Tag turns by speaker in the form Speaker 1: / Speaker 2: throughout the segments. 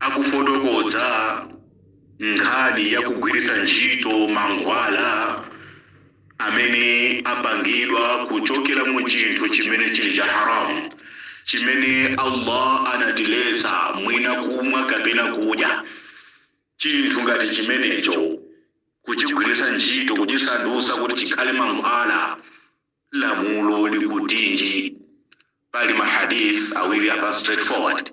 Speaker 1: akufotokoza nkhani ya kugwiritsa ntchito mankhwala amene apangidwa kuchokera mu chinthu chimene chili cha haramu chimene allah anatiletsa mwina kumwa kapena kudya chinthu ngati chimenecho kuchigwiritsa ntchito kuchisandusa kuti chikhale mankhwala lamulo likutinji pali mahadith awiri apa straightforward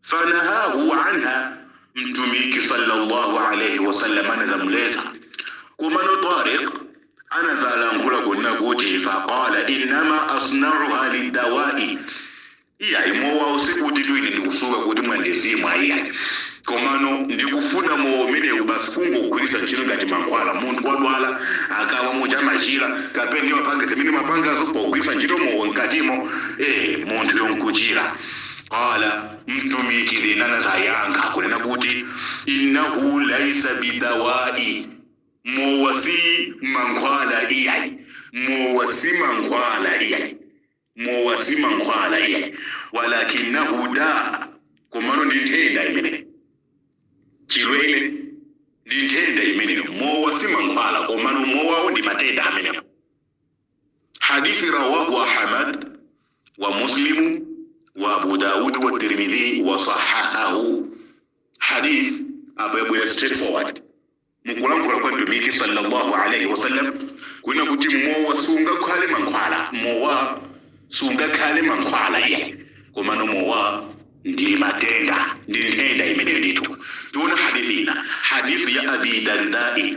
Speaker 1: fanahahu anha mtumiki sallallahu alaihi wasallam anazamuletsa komano tariq anazalankhula kunena kuti faqala innama asnauha lidawai iyayi mowa sikuti ine ndikufuna kuti mwa ndizimwa iyayi komano ndikufuna mowa umenewu basi kungogwiritsa ntchito ngati mankhwala munthu wadwala akamwa muja amachira kapena ndimapanga zimene ndimapangazo pogwiritsa ntchito mowa mkatimo eh munthu uyo nkuchira Qala, Mtumiki then anazayankha kunena kuti innahu laisa bidawai, mowa si mankhwala iyayi, mowa si mankhwala iyayi, mowa si mankhwala iyayi, walakinahu da, komano ndi nthenda imeneyo chilwele ndi nthenda imeneyo, mowa si mankhwala komano mowawo ndi matenda amenewo. Hadithi rawahu Ahmad wa Muslimu wa Abu Daud wa Tirmidhi wa sahahahu. Hadith apa yabwera straightforward mukulankhula kwa Mtumiki sallallahu alaihi wasallam kunena kuti mowa sungakhale mankhwala mowa sungakhale mankhwala iyayi komano mowa ndi matenda ndi nthenda imeneyo ndithu tiona hadithi ina hadithi ya abi dardai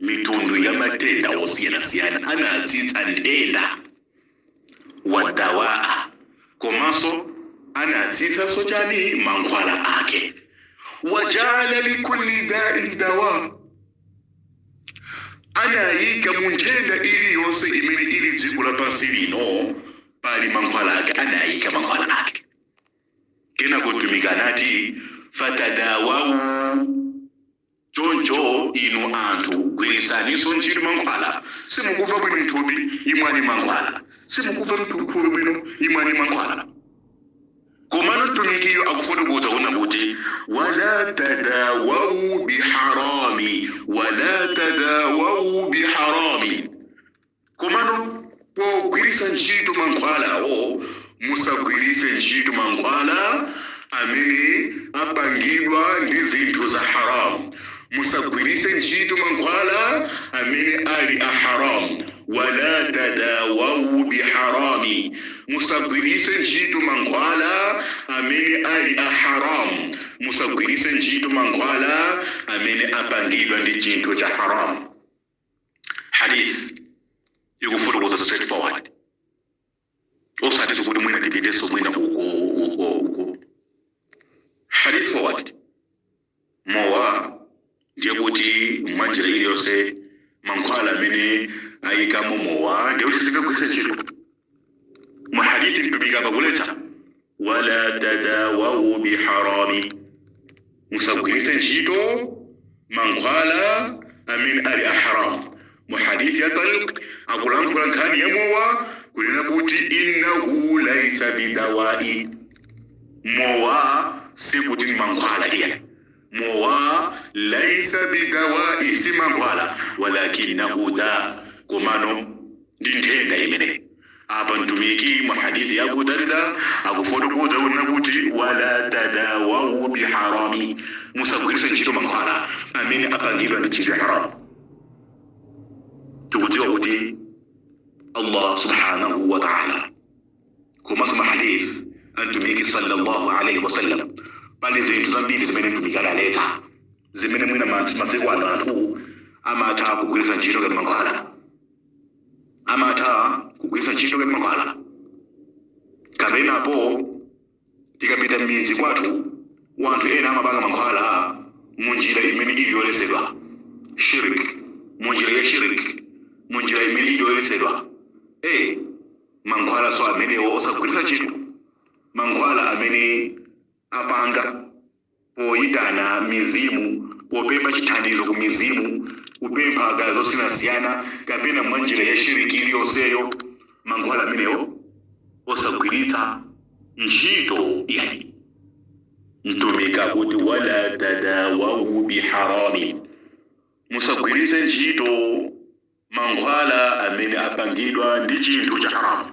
Speaker 1: mitundu ya matenda yosiyanasiyana anatsitsa nthenda wadawaa komanso anatsitsanso chani mankhwala ake wajaala likulli dain dawa anayika mu nthenda iliyonse imene ili dziko lapansi lino pali mankhwala ake anayika mankhwala ake kenako mtumiki anati fatadawawu Choncho inu anthu gwirisaninso ntchito mankhwala. Simukuva bwino mthupi? Imwani mankhwala. Simukuva mthupi bwino? Imwani mankhwala. Komano mtumikiyo akufotokoza kunena kuti wala tadawau biharami, wala tadawau biharami. Komano pogwiritsa ntchito mankhwalawo, musagwiritse ntchito mankhwala amene apangidwa ndi zinthu za haram. Musagwiritse ntchito mankhwala amene ali a haram. Wala tadawau biharami, musagwiritse ntchito mankhwala amene ali a haram. Musagwiritse ntchito mankhwala amene apangidwa ndi chinthu cha haram. hadith ikufotokoza straight forward osati zokuti mwina tipitenso mwina uko hadith forward mowa ndiye kuti mwanjira iliyonse mankhwala amene ayikamo mowa ndiye kuti sitingagwiritse ntchito mu hadithi mtumiki akuletsa wala tadawau biharami musagwiritse ntchito mankhwala amene ali aharamu mu hadithi ya Tariq akulankhula nkhani ya mowa kunena kuti innahu laisa bidawai mowa sikuti ni mankhwala iya Mowa laisa bidawai simankhwala walakinahu da komano ndi nthenda imene. Apa mtumiki mu hadithi ya Abu Darda akufotokoza kunena kuti wala tadawau biharami musagwiritse ntchito mankhwala amene apangidwa ndi chinthu cha haramu tikudziwa kuti Allah subhanahu wa ta'ala komanso mahadith a mtumiki sallallahu alaihi wasallam pali zinthu zambiri zimene mtumiki adaletsa zimene mwina mas- masiku ano anthu amatha kugwiritsa ntchito ngati mankhwala amatha kugwiritsa ntchito ngati mankhwala kapenapo tikapita m'midzi kwathu wanthu ena amapanga mankhwala mu njira imene ili yoletsedwa shirik mu njira ya shirik mu njira imene ili yoletsedwa e mankhwala so amenewo osagwiritsa ntchito mankhwala amene apanga poyitana mizimu, popempha chithandizo ku mizimu, kupempha kwa zosiyanasiyana kapena mwa njira ya shiriki iliyonseyo, mankhwala amenewo osagwiritsa ntchito yayi. Mtumiki akuti wala tadawau biharami, musagwiritse ntchito mankhwala amene apangidwa ndi chinthu cha haramu.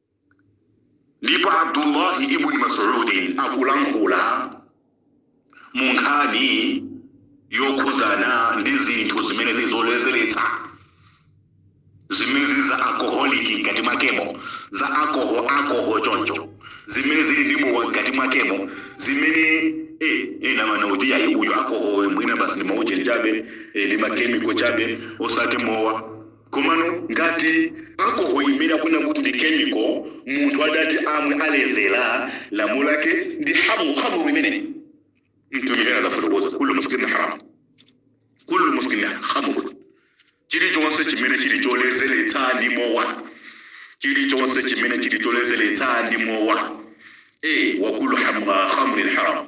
Speaker 1: ndipo abdullahi ibni Mas'ud akulankhula mu nkhani yokhuzana ndi zinthu zimene zili zoledzeretsa zimene zili za alcoholic mkati mwakemo za alcohol alcohol choncho zimene zili ndi mowa mkati mwakemo zimene eh, ena amanena kuti ayi uyo alcohol mwina basi ndi mauje chabe eh, ndi makemiko chabe osati mowa Komano ngati alcohol imene akunena kuti ndi chemical munthu adati amwe alezera lamulo lake ndi khamru khamru imene mtumiki anafotokoza kullu muskirin haram kullu muskirin khamru chilichonse chimene chili choledzeretsa ndi mowa chilichonse chimene chili choledzeretsa ndi mowa e wa kullu khamrin khamrin haram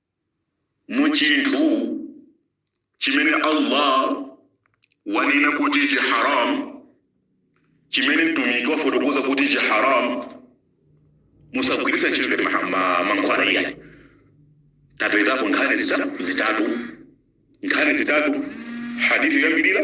Speaker 1: mu chinthu chimene Allah wanena kuti chi haram chimene mtumiki wafotokoza kuti chi haram musagwiritse ntchito ngati maha- ma- mankhwala iyayi tapezapo nkhani zita- zitatu nkhani zitatu hadithi yoyambirira